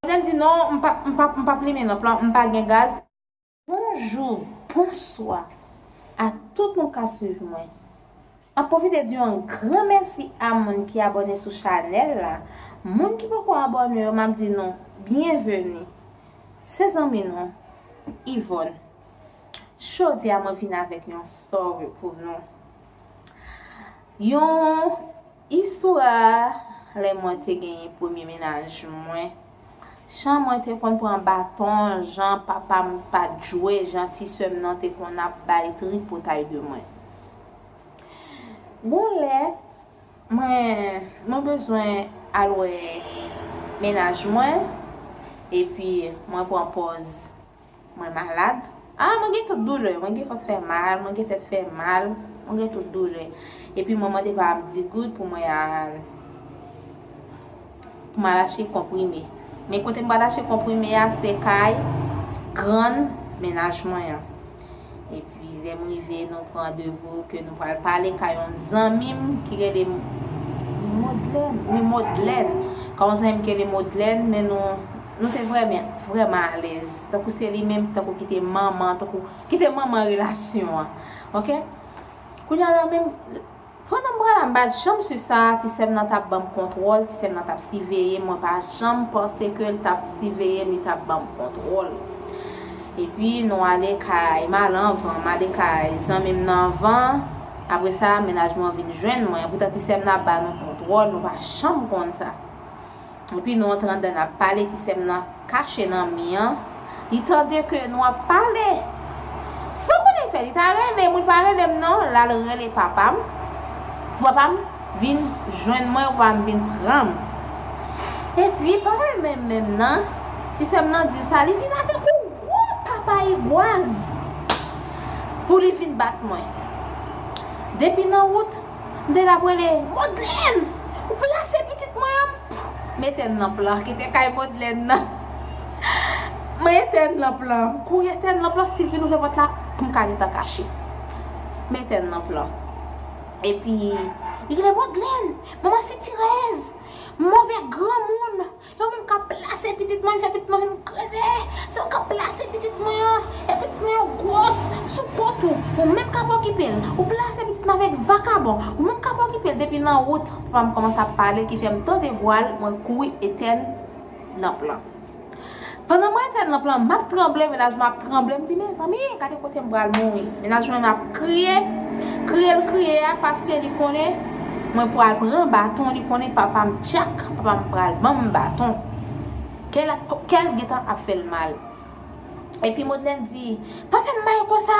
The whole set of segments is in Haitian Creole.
Odèn di non, m pa, m pa, m pa plimen lanp lan, m pa gen gaz. Bonjou, bonswa a tout moun k ap swiv mwen. Map pwofite di yon gran mèsi a moun ki abòne sou chanèl la, moun ki poko abòne yo map di nou byenveni, se zanmi nou Yvonne, jodia mwen vin avèk yon story pou nou, yon istwa lè mwen te genyen premye mennaj mwen. Jan mwen te konn pran baton, jan papa m pa t jwe, jan ti sè m nan te konn ap bay tripotay de mwen. Gon lè, mwen, mwen bezwen al wè mennaj mwen, epi mwen pran pòz Mwen malad. Ah mwen gen tout doulè. Mwen gen kò fè mal, mwen gen tèt fè mal, mwen gen tout doulè. Epi mwen mande pa m di goud pou mwen al pou m al achte konprime. Men kote m pral achte konprime a se kay grann mennaj mwen an. epi lè m rive nou pran devo ke nou pral pale ka yon zanmi m ki rele Modlèn wi Modlèn ka yon zanmi m ki rele Modlèn men nou nou te vrèmen vrèman alèz tankou se li menm tankou ki te manman tankou ki te manman relasyon an ok kounya la menm Pandan m pral anba djanm su sa, ti sè m nan t ap ban m kontwòl, ti sè m nan t ap siveye m, mwen pa janm panse ke l t ap siveye m, li t ap ban m kontwòl. Epi nou ale kay m al anvan, m ale kay zanmi m nan anvan, apre sa mennaj mwen vin jwenn mwen, epoutan ti sè m nan ap ba nou kontwòl, nou pa janm konn sa. Epi nou antre andan nap pale ti sèm nan kache nan mi an li tande ke nou ap pale san konnen fè li ta rele mwen li pa relem non lal rele papam pou papam vin jwenn mwen pou papam vin pranm epi papaye menm menm nan ti sèm nan dil sa li vin avèk yon gwo papaye gwaz pou li vin bat mwen depi nan wout M te tap rele Modlèn! Ou plase pitit mwen an! M etèn lanp lan. Kite kay Modlèn nan. M etèn lanp lan. M kouri etèn lanp lan si l fin ouvè pòt la pou m ka gentan kache. M etèn lanp lan. Epi li rele Modlèn! Manman sitirèz! Move granmoun! Se ou menm kap plase pitit mwen fè pitit mwen vin kreve se ou kap plase pitit mwen an e pitit mwen yo gwòs sou kont ou ou menm kap okipel ou plase pitit mwen avèk vakabon ou menm kap okipel depi nan wout papam kòmanse ap pale ki fèm tande vwal mwen kouri etèn nan plan. Pandan mwen te nan plan map tranble mennaj mwen ap tranble m di mezanmi gade kote m pral mouri mennaj mwen ap kriye kriye l kriye a paske li konnen mwen pral pran baton li konnen papa m tchak papa m pral ban m baton kè l gentan ap fè l mal epi Modlène di pa fè m mal konsa.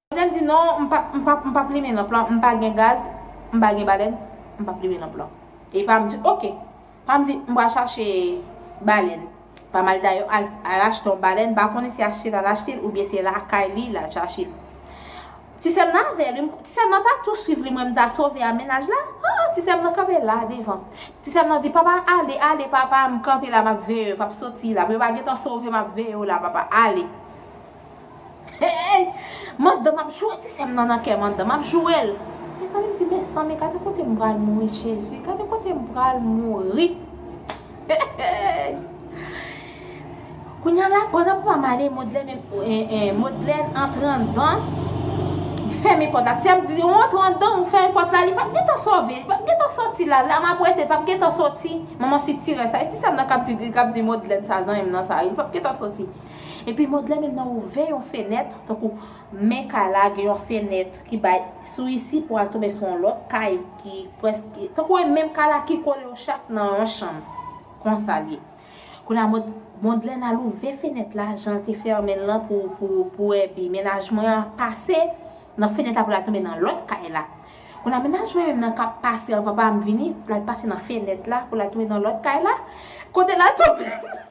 Balèn di non, m pa, m pa, m pa plimen lanp lan, m pa gen gaz, m pa gen balèn, m pa plimen lanp lan. E pa m di, ok. Pa m di, m pral chache balèn. Pa m al dayò al, al achte yon balèn, m pa konnen se achte l al achte l oubyen se lakay li l al chache l. Ti sè m nan avè l wi, m, ti sè m nan ta tou swiv li mwen m ta sove a mennaj la. Han, ti sè m nan kanpe la devan. Ti sè m nan di, papa ale, ale papa, m kanpe la m ap veye w, pa p soti la. Yo pa gen tan sove m ap veye w la papa, ale. Hey! Mandanm ap joure ti sèm nan nan kè mandanm ap jourel. Mezanmi m di mezanmi gade kote m pral mouri jezi gade kote m pral mouri Hey! Kounya la pandan pou pa m ale Modlène Modlène antre andan li fèmen pòt la ti a m di ou antre andan ou fèmen pòt la li pap gentan sove li pap gentan soti la la map rete li pap gentan soti manman sitirè sa e ti sèm nan kap di kap di Modlène sa zanmi m nan sa li pap gentan soti. Epi Modlè menm nan ouvè yon fenèt, tankou men kay la gen yon fenèt ki bay sou isi pou al tonbe sou yon lòt kay ki prèske tankou e menm kay la ki kole yo chak nan yon chanm. Konsa l ye. Kounye a Modlè n al ouvè fenèt la jan l te fèmen l lan pou pou Èbi. Mennaj mwen an pase nan fenèt la pou l al tonbe nan lòt kay la. Kounye a mennaj mwen menm nan k ap pase anvan pa m vini, l al pase nan fenèt la pou l al tonbe nan lòt kay la. Kote l al tonbe?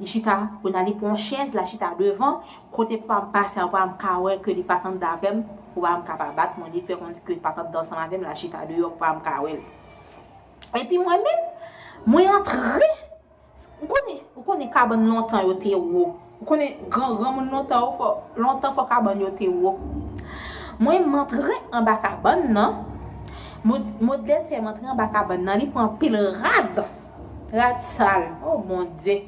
Li chita pou nan li pran yon chèz la chita devan kote pou am pase a pou am ka wè ke li pat andan avèm pou am ka pa bat mwen li fè konn ke pat andan ansanm avèm la chita deyò pou am ka wèl epi mwen menm mwen antre ou konnen ou konnen kabann lontan yo te wo. Ou konnen gran granmoun lontan ou fò lontan fò kabann yo te wo. Mwen m antre anba kabann nan, mod modlèt fè m antre anba kabann nan li pran anpil rad, rad sal o bondye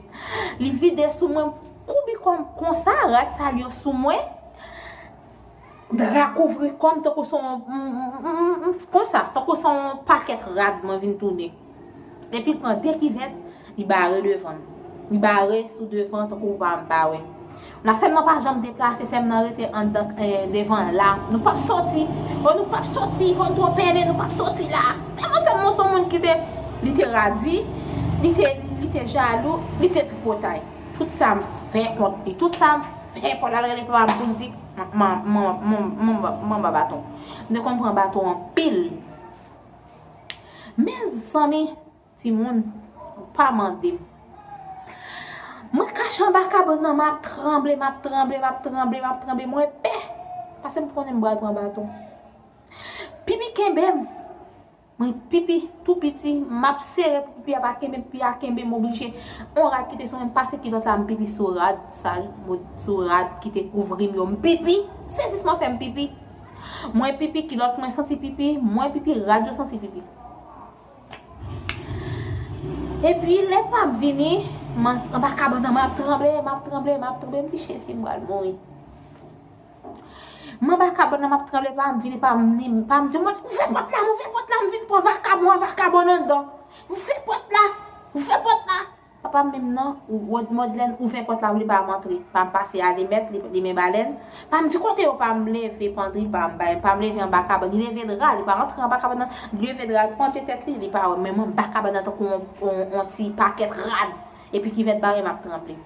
li vide sou mwen m koubi kò m konsa rad sal yo sou mwen, Dra kouvri kò m tankou son konsa, tankou son pakèt rad mwen vin tounen. Epi l pran de kivèt, li bare devan m. Li bare sou devan tankou pa m pa wè. La sè m nan pa janm deplase, sè m nan rete anndan devan la. Nou pap soti! O nou pap soti! Fò n twò pennen, nou pap soti la! Tèlman sè m nan son moun ki te, li te radi, li te, li te jalou, li te tripotay. Tout sa m fè kont li, tout sa m fè pou l al rele papa m pou l di. Manba baton. Mte konn pran baton anpil. Mezanmi timoun pa mandem. Mwen kache anba kabann nan map tranble, map tranble, map tranble, map tranble mwen pè. Pasem konnen m pral pran baton. Pipi kenbem. Mwen pipi tou piti map sere pou pipi a pa kenbe pipi a kenbe m oblije on rad kite sou mwen m pase kilòt la m pipi sou rad sa yo mwen sou rad kite kouvri m yo m pipi sezisman fèm pipi mwen pipi kilòt mwen santi pipi mwen pipi rad yo santi pipi epi lè pam vini m anba kabann nan map tranble map tranble map tranble m di jezi m pral mouri. M anba kabòn nan m ap tranble pa m vini pa m ni m pa m di mwen ouvè pòt la ouvè pòt la m vin pran vakabon an vakabòn anndan ouvè pòt la ouvè pòt la papa m menm nan wòd mòdlèn ouvè pòt la m li pa m antre pa m pase alimèt li men balèn pa m di kote yo pa m leve pandri pa m bay pa m leve anba kabòn li leve dra li pa rantre anba kabòn nan li leve dra l panche tèt li li pa wè m men m anba kabòn nan tankou on ti pakèt rad epi kivèt bare m ap tranble.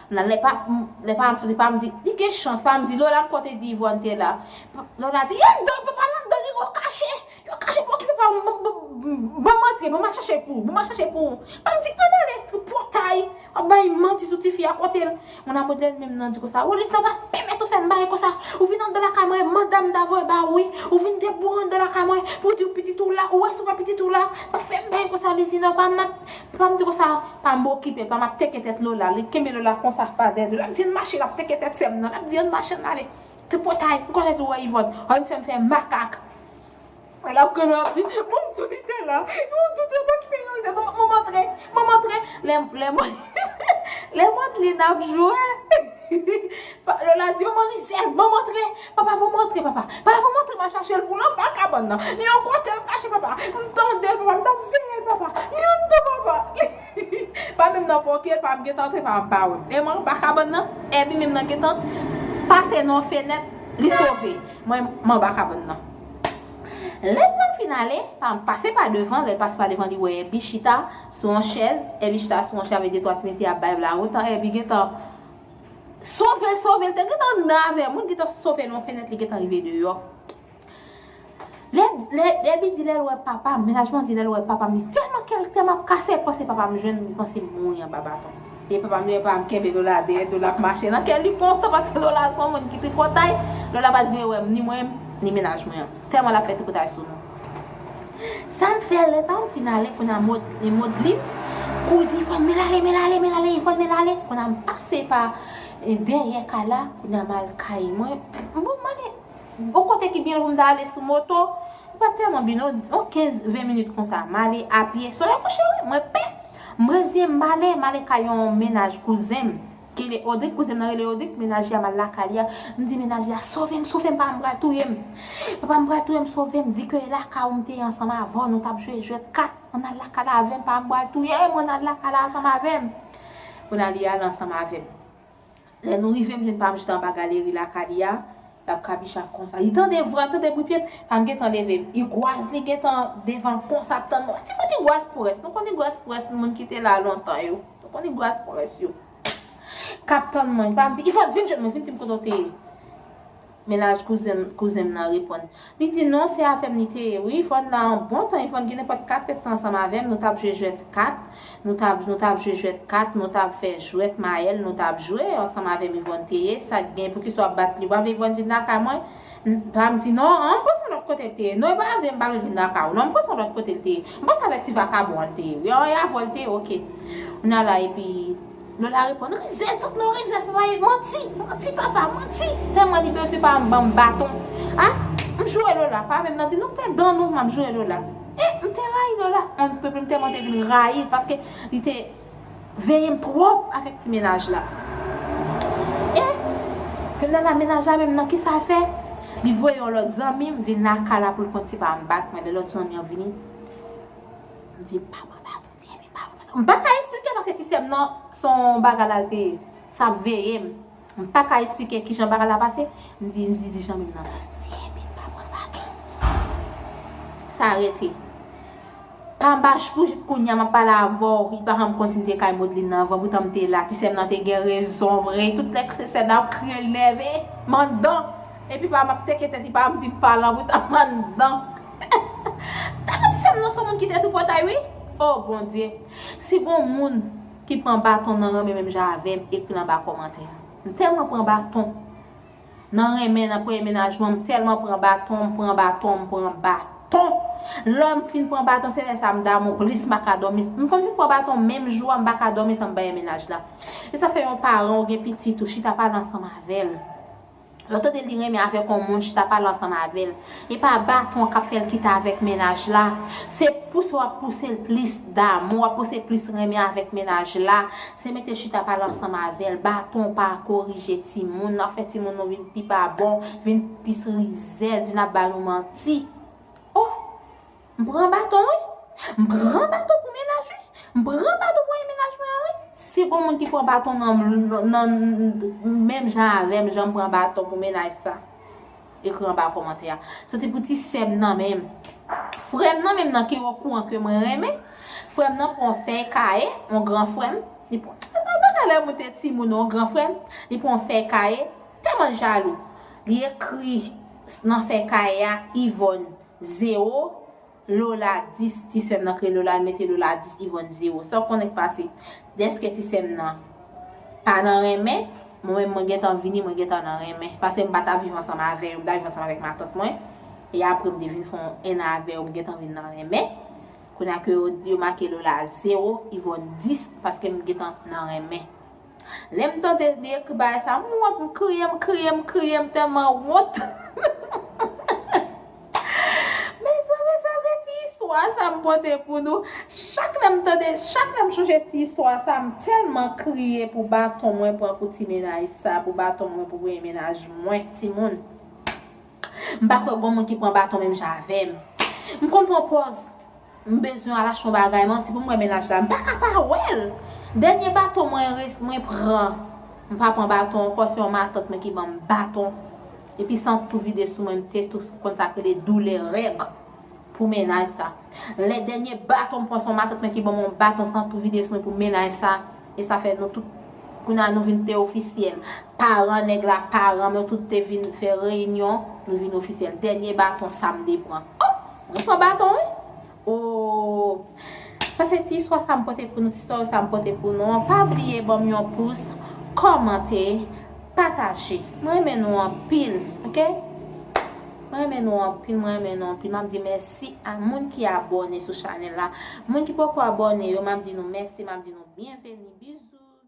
Nan lè pa m, lè pa m soti pa m di, li gen chans pa m di Lola m konte di Yvonne te la. Lola di, Yvonne dan papa l anndan li yo kache, yo kache pou okipe pa m, ban m, ban m antre, ban m al chache pou ou, ban m al chache pou ou. Pa m di, Ann ale, tripotay, w ap bay manti sou tifi a kote l. Moun a modèn menm nan di konsa, Rolis nan pa pèmèt ou fè m bagay konsa, ou vin anndan lakay mwen, manda m ta voye ba ou wi, ou vin deboure anndan lakay mwen pou w di pitit ou la, ou wè si w wè pitit ou la, pa fè m bagay konsa Lizina, pa m, Pam di konsa pa mokipe pa map teke tèt Lola li kenbe Lola konsa pa dèyè Lola di an mache lap teke tèt sèm nan lap di an mache ann ale tripotay ou konn etou wè Yvonne an li fèm fè makak lap gade lap di bon mtou li te la bon mtou te pa kite yon zè bon manman antre manman antre lè lè mwen lè Madeline ap jwe Lola di manman rizèz manman antre Papa pou montre papa. Papa pou montre ma chache l pou l anba kabann nan. Li yon kote l kache papa. M tande l papa m tap veye l papa. Li anndan papa. Pa menm nan pòke l pam gentan antre papa m pa wè m. Menm anba kabann nan Èbi menm nan gentan pase nan yon fenèt li sove mwen m anba kabann nan. Lè pam fin ale pam pase pa devan lè l pase pa devan li wè Èbi chita sou yon chèz Èbi chita sou yon chèz avèk de twa ti mesye ap bay vla otan Èbi gentan Sove sove l te gentan anndan avè moun ki ta sove nan yon fenèt li gentan rive deyò lè lè Dèbi di lè l wè papa m mennaj mwen di lè l wè papa m li tèlman kè l tèlman ap kase l panse papa m jwenn li panse m mouri anba baton e papa m e papa m kenbe Lola dèyè Lola ap mache nan kè l li kontan paske Lola se yon moun ki tripotay Lola pa t vle wè m ni mwen ni mennaj mwen an tèlman l ap fè tripotay sou nou. Sa m fè lè pa m fin ale kounya e Modlin kou di Ifòn men l ale men l ale men l ale Ifòn men l ale kounya m pase pa dèyè kay la kounya m al kay mwen bon m ale yon kote ki byen lwen m ta ale sou moto m pa t tèlman byen non yon 15 20 minit konsa m ale apye solèy kouche wi mwen pè m reziyen m m ale m ale kay yon mennaj kouzen m Kele odrik kouzin nan rele odrik menaj li a mal lakay li a m di menaj li a sovem sovem papa m pral touyem papa m pral touyem sovem di ke e lakay ou m te ye ansanm avèw nou tap jwe jwèt kat ann al lakay la avèm papa m pral touyem ann al lakay la ansanm avèm kounye a li ale ansanm avèm lè nou rive m jwenn papa m chita anba galeri lakay li a lap kabicha konsa li tande vwa l tande bri pyem papa m gentan leve m igwaz li gentan devan l konsa ap tann mwen ti kout igwaz pwès nou konn igwaz pwès moun ki te la lontan yo. Ou konnen bras pwomès yo. Kap tann mwen. Li pa di, Ifòt, vin jwenn mwen, vin di m kote w te ye. Mennaj kouzen m kouzen m nan reponn. Li di, Non, se avè m li te ye wi. Ifòt nan yon bon tan, Ifòt gen nenpòt katrèt tan ansanm avè m. Nou t ap jwe jwèt kat. Nou t ap nou t ap jwe jwèt kat. Nou t ap fè jwèt mayèl. Nou t ap jwe ansanm avè m Ivòn te ye. Sa k gen? Poukisa w ap bat li? Ou pa vle Ivòn vin lakay mwen? Pam di non, an m panse lòt kote l te ye non e pa avè m m pa vle vin daka w non m panse lòt kote l te ye m panse avèk ti vakabon an l te ye wi an e avè w l te ye ok kounya la epi Lola reponn rizèz tout non rizèz papa e manti manti papa manti tèlman li bezwen pa m ban m baton a m joure Lola pa menm nan di non fè dan nou m ap joure Lola e m te rayi Lola on n pèpè m tèlman te vin rayi l paske li te Veyem trop avek ti menaj la. Eh Fernanda menaj la menm nan kisa fè li voye yon lòt zanmim vin lakay la poul konn tipa an bat mwen lè lòt zanmi an vini m di mpa pran baton ti enmi mpa pran baton mpa ka esplike non se ti sèm nan son bagay lal te sa ap veyem. M pa ka esplike kijan bagay la pase, m di di di zanmi m nan, di epi m pa pran baton. Sa rete. Panbach pou jis kounya m ap pale avè w, li pa janm kontinye kay Modeline nan anvan poutan m te la, ti sè m nan te gen rezon vre, tout lè se sè Dawou k kriye l nève, m anndan, epi pa m ap teke tèt li pa m di m pa lan poutan m anndan. Tande ti sè m nan s on moun ki te tou pòtay wi, o Bondye! Si gon moun. ki pran baton nan renmen menm jan avèm ekri l anba kòmantè a m tèlman pran baton nan renmen nan premye menajman m tèlman pran baton m pran baton m pran baton lèm fin pran baton se lè sa m damou plis m paka dòmi m konn fin pran baton menm jou a m paka dòmi san m pa wè menaj la esa fè yon paran ou gen pitit ou chita pale ansanm avèl. Lè w tande li renmen avèk on moun chita pale ansanm avè l, e pa baton k ap fè l kite avèk mennaj la, se pouse w ap pouse l plis damou, w ap pouse l plis renmen avèk mennaj la, se mete chita pale ansanm avè l, baton pa korije timoun, n ap fè timoun nou vin pi pa bon, vin plis rizèz, vin ap ba nou manti. Oh! M pran baton wi. M pran baton pou mennaj wi. M pran baton pou mennaj mwen an wi. Si gon moun ki pran baton nan menm jan avèm janm pran baton pou mennaj sa ekri anba kòmantè a. Soti pou ti sèm nan menm. Frèm nan menm nan ki okouran ke mwen renmen. Frèm nan pran yon fèy kaye yon gran frèm. Li pran nan bagay lè moun te ti moun yon gran frèm. Li pran yon fèy kaye tèlman l jalou. Li ekri nan fèy kaye a Yvonne. Zero, Lola, Dis, Ti sè m nan kriye Lola, l mete Lola a dis, Ivòn, Zero, Sa w konnen k pase? Dèske ti sè m nan pa nan renmen, mwen menm mwen gentan vini, mwen gentan nan renmen. Pase m pa ta viv ansanm avè yo, m ta viv ansanm avèk matant mwen. E apre m te vin fè yon ennan avè yo, m gentan vin nan renmen. Kounye a ke yo make Lola zero, Ivòn dis, paske m gentan nan renmen. Lem tande li ekri bagay sa m wont m kriye m kriye m kriye m telman wont Mezanmi sa se ti istwa sa m pote pou nou chak lem tande chak lem sonje ti istwa sa m telman kriye pou baton mwen pran pou ti menaj sa pou baton mwen pou premye menaj mwen timoun. M pa kwè gon moun ki pran baton menm jan avèm. M konn pran pòz m bezwen al achte yon bagay manti pou m wè mennaj la m pa ka pa wèl. Dènye baton mwen resi mwen pran m pa pran baton ankò se yon matant mwen ki banm baton epi san tou vide sou mwen m te tou konn sak rele doulè règ pou mennaj sa. Lè dènye baton m pran se yon matant mwen ki banm yon baton san tou vide sou mwen pou mennaj sa. E sa fè nou tout Kounye a nou vin te ofisyèl Paran nèg la paranm yo tout te vin fè reyinyon Nou vin ofisyèl Dènye baton Sam te pran Oh Mwen pran baton wi Ooh Sa se ti istwa sa m pote pou nou Ti story sa m pote pou nou an Pa bliye ban m yon pous Kòmante Pataje Mwen renmen nou anpil Ok Mwen renmen nou anpil Mwen renmen nou anpil M ap di mèsi. Mèsi a moun ki abòne sou chanèl la. Moun ki poko abòne yo map di nou mèsi map di nou byenveni. Bisous.